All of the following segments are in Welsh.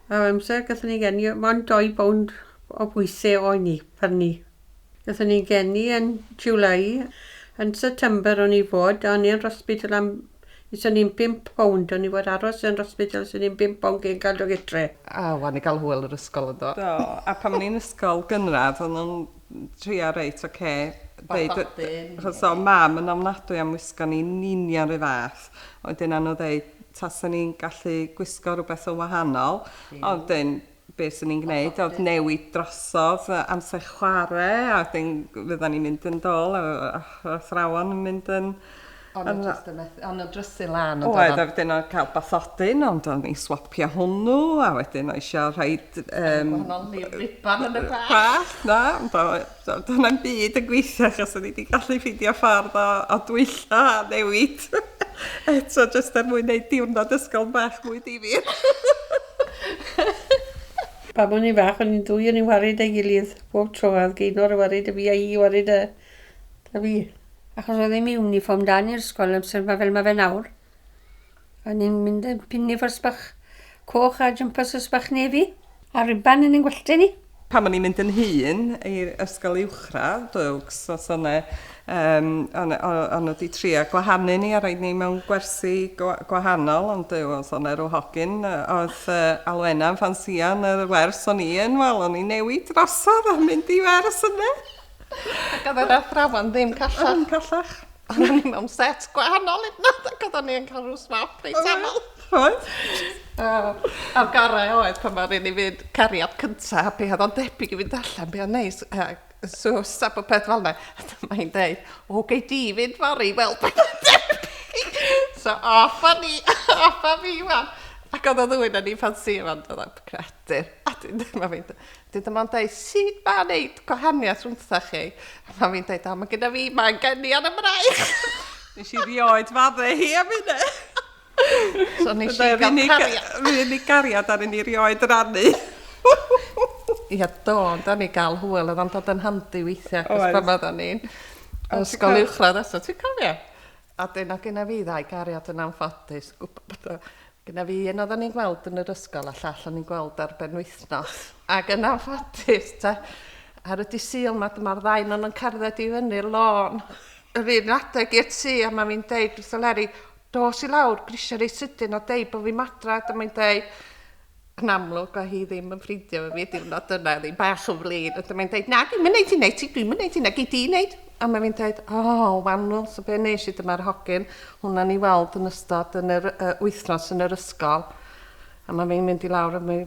Ar amser, gallwn ni geni mond 2 bownd o bwyse o'n ni, pyrnu. Gallwn ni geni yn July. Yn September o'n i fod, o'n i yn rhosbidl am... Is o'n i'n 5 bownd, o'n i fod aros yn rhosbidl is o'n i'n 5 bownd cyn cael dod gytre. A, wan i gael hwyl yr ysgol yndo? Do, a pan o'n i'n ysgol gynradd o'n nhw'n trio reit, ocê, deud... Bathodyn. Achos o' mam yn ofnadwy am wisgo ni'n union 'run fath. oedd hi'n anodd ddeud, tasen ni'n gallu gwisgo rhywbeth yn wahanol, ond wedyn be 'swn i'n gwneud oedd newid drosodd amser chwarae, a wedyn fyddan ni'n mynd yn dol, yr athrawon yn mynd yn... Ond yn just yn methu, ond yn drysu lan yn dod... Oedd, a wedyn oedd cael bathodyn, ond o'n i'n swapio hwnnw, a wedyn oedd eisiau rhaid... Gwahanol, neu riban yn y bag! ...Bag, na, So, dyna'n byd yn gweithio achos o'n i wedi gallu ffeindio ffordd o, o dwylla a newid. Eto, jyst er mwyn neud diwrnod ysgol bach mwy difyr. Pam o'n i'n fach, o'n i'n dwy o'n i'n warid ei gilydd bob tro. Oedd Geinor yn warid y fi a hi yn warid y... da fi. Achos oedd ddim uniform da ni'r ysgol amser 'ma fel mae fe nawr. O'n i'n mynd yn pin nifers bach coch a jympasys bach nefi, a riban yn ein gwallte ni. Pan o'n i'n mynd yn hŷn i ysgol uwchradd, Dugs, os o' 'ne yym o' 'ne o' o' nhw 'di trio gwahanu ni a roid ni mewn gwersi gwa- gwahanol, ond Duw, os o' 'ne ryw hogyn yy o'dd yy Alwena'n ffansïo yn yr wers o'n i yn, wel, o'n i'n newid drosodd a mynd i wers ynde! Ac oedd yr athrawon ddim callach. Ddim callach. Ond o'n i mewn set gwahanol hyd nad ac oedden ni yn cael rhywbeth smaf reit aml. Oedd? A'r gorau oedd pan mae'r un i fynd cariad cyntaf, be oedd o'n debyg i fynd allan, be oedd neis, so stab o peth fel yna. Mae hi'n dweud, o, gei di fynd fori, wel, be oedd o'n debyg. So, off a ni, off a fi, wan. Ac oedd o ddwy'n o'n i'n ffansi, wan, oedd o'n credu. A dyn ddim yn fynd, Dydy mam dweud, sut mae wneud gwahaniaeth rhwngthoch chi? A mam fi'n dweud, o, mae gyda fi, mae'n geni ar y braich. Nes i rioed fadde hi am hynna. So nes i gael cariad. Mae hynny gariad ar hynny rioed yr annu. Ia, do, ond da ni gael hwyl, oedd o'n dod yn handi weithiau, cos pan oedden ni'n ysgol uwchradd eto, ti'n cofio? A dyna gynna fi ddau gariad yn anffodus. Gwbo bod o... Gynna fi un oddan ni'n gweld yn yr ysgol a llall o'n ni'n gweld ar benwythnos. Ac yn anffodus te, ar y dy' Sul 'ma dyma'r ddau non yn cerdded i fyny'r lôn yr un adeg i'r tŷ a ma' fi'n deud wrth y Leri, dos i lawr, grisia reit sydyn a deud bo' fi'm adra, dyma hi'n deud, Yn amlwg oedd hi ddim yn ffrindio efo fi y diwrnod yna, oedd hi'n bach yn flin. A dyma'n dweud, na, dwi'n mynd i wneud ti, dwi'n mynd i wneud ti, na gei di wneud. A mae fi'n dweud, o, oh, wannwl, so be nes i dyma'r hogyn hwnna ni weld yn ystod yn yr uh, wythnos yn yr ysgol. A mae fi'n mynd i lawr a mae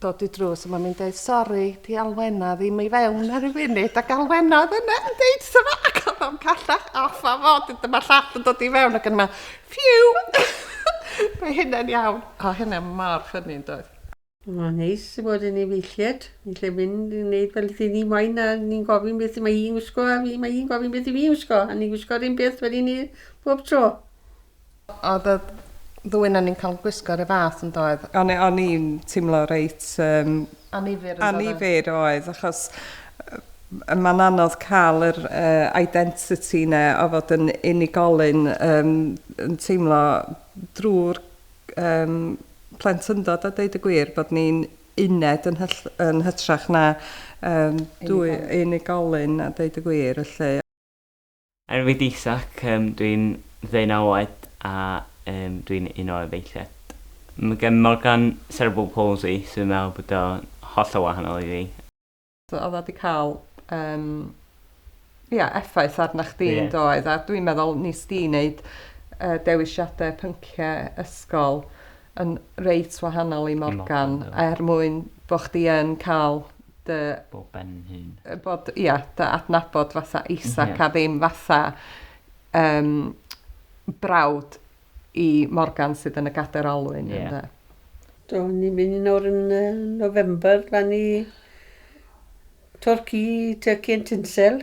dod i drws a mae fi'n dweud, sori, di alwena ddim i fewn ar y funud, ac alwena oedd yna yn dweud, so mae ac oedd o'n callach off a fod, dyma llall yn dod i fewn ac yn yma, Ffîw! Mae hynna'n iawn. O, hynna mor ffynnu yn doedd? Mae'n neis i fod yn efeilliad. Ni'n lle mynd i wneud fel dyn ni moyn a ni'n gofyn beth y mae hi'n gwisgo a fi mae hi'n gofyn beth i fi'n gwisgo a ni'n gwisgo'r un peth fel i ni bob tro. Oedd y ddwy na ni'n cael gwisgo'r un fath yn doedd? O'n i'n teimlo reit um, Annifyr yn dod o... Annifyr oedd achos mae'n anodd cael yr identity 'na o fod yn unigolyn yn teimlo drwy'r plentyndod a deud y gwir bod ni'n uned yn hytrach na dwy unigolyn a deud y gwir felly. Enw fi D'isak, yym dwi'n ddeunaw oed a yym dwi'n un o efeilliaid. Mae gen Morgan cerebral palsy so dwi'n meddwl bod o'n hollol wahanol i fi. So oedd o 'di cael yym ia effaith arna chdi yn doedd a dwi'n meddwl wnest ti wneud yy dewisiadau pynciau ysgol yn reit wahanol i Morgan, er mwyn bod chdi yn cael dy... Bod ben hun. Bod, ia, dy adnabod fatha Isaac a ddim fatha um, brawd i Morgan sydd yn y gader olwyn. Yeah. Do, ni'n mynd nawr yn uh, November, lan i Torci, Turkey and Tinsel.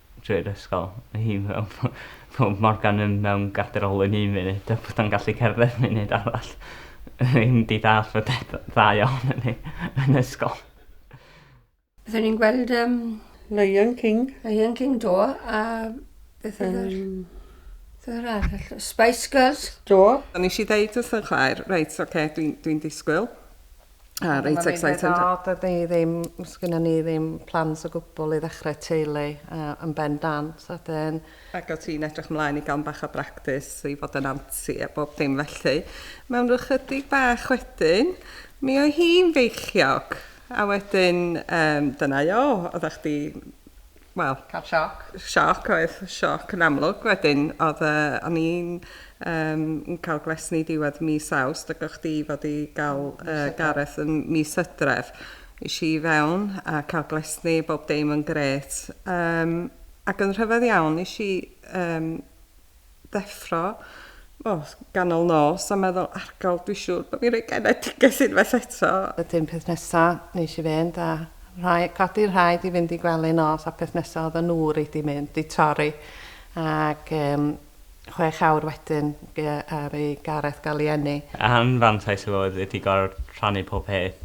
drwy'r ysgol fy hun fel bo' bo' Morgan yn mewn gadwraol yn un munud a bod o'n gallu cerdded munud arall. Ddim 'di dallt fod e d- dda iawn yn ei yn ysgol. Byddwn ni'n gweld um, Lion King. Lion King do a beth oedd yr... Um, beth oedd arall? Spice Girls. Do. O'n i eisiau deud wrth yn chwaer, reit, oce, okay, dwi'n dwi, dwi disgwyl. Ah, reit excited. Dyna fi, dyna ni ddim, sgynna ni ddim plans o gwbl i ddechrau teulu uh, yn ben dan. So dyn... Ac o ti'n edrych mlaen i gael bach o bractis i fod yn anti a bob dim felly. Mewn rhyw chydig bach wedyn, mi oedd hi'n feichiog. A wedyn, um, dyna o, oeddech chdi wel... Cael sioc. Sioc, oedd sioc yn amlwg. Wedyn, oedd e, o'n i'n um, cael glesni diwedd mis awst, ac o'ch di fod i gael uh, Gareth yn mis ydref. Is i fewn a cael glesni, bob dim yn gret. Um, ac yn rhyfedd iawn, is i um, ddeffro, o, ganol nos a meddwl, argol, dwi siŵr bod fi'n rhoi genedigaeth unwaith eto. Wedyn peth nesa nesh i fynd a rhai- codi rhaid i fynd i gwely nos a peth nesa odda nw reit di mynd di torri ag yym chwech awr wedyn gy- ar i Gareth ga'l i eni. Anfantais efo oedd ydi goro rhannu pob peth.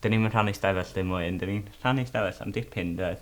Dyn ni'm yn rhannu stafell dim mwy, ond dyn ni'n rhannu stafell am dipyn doedd?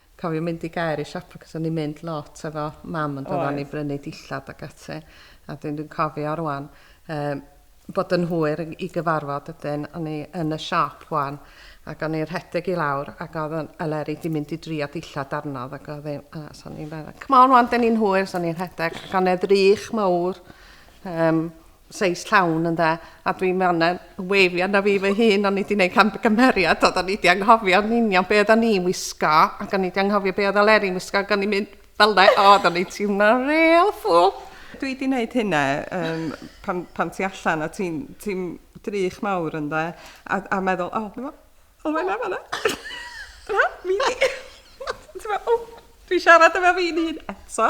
Cofio mynd i Gaer i siopa cos o'n i'n mynd lot efo mam on'd oeddwn i brynu dillad ac ati a dwi'n dwi'n cofio rwan yym bod yn hwyr i gyfarfod ydyn o'n i yn y siop rwan ac o'n i'n rhedeg i lawr ac oedd yn Eleri di mynd i drio dillad arnodd ac oedd i'n a so o'n i'n meddwl come on rwan dyn ni'n hwyr so o'n i'n rhedeg ac o'n e ddrych mawr um, seis llawn ynde a dwi'n ma' yna weifio arna fi fy hun o'n i wedi gwneud camgymeriad oedd o'n i wedi anghofio yn union be oedden ni'n wisgo ac o'n i wedi anghofio be oedd Aleri'n wisgo ac o'n i'n mynd fel yna o oedd o'n i'n teimlo real fool dwi wedi gwneud hynna um, pan, pan ti allan a ti'n ti drych mawr ynde a, a meddwl o oh, Olwen na fanna na mi di ti'n meddwl o dwi siarad efo fi'n hun eto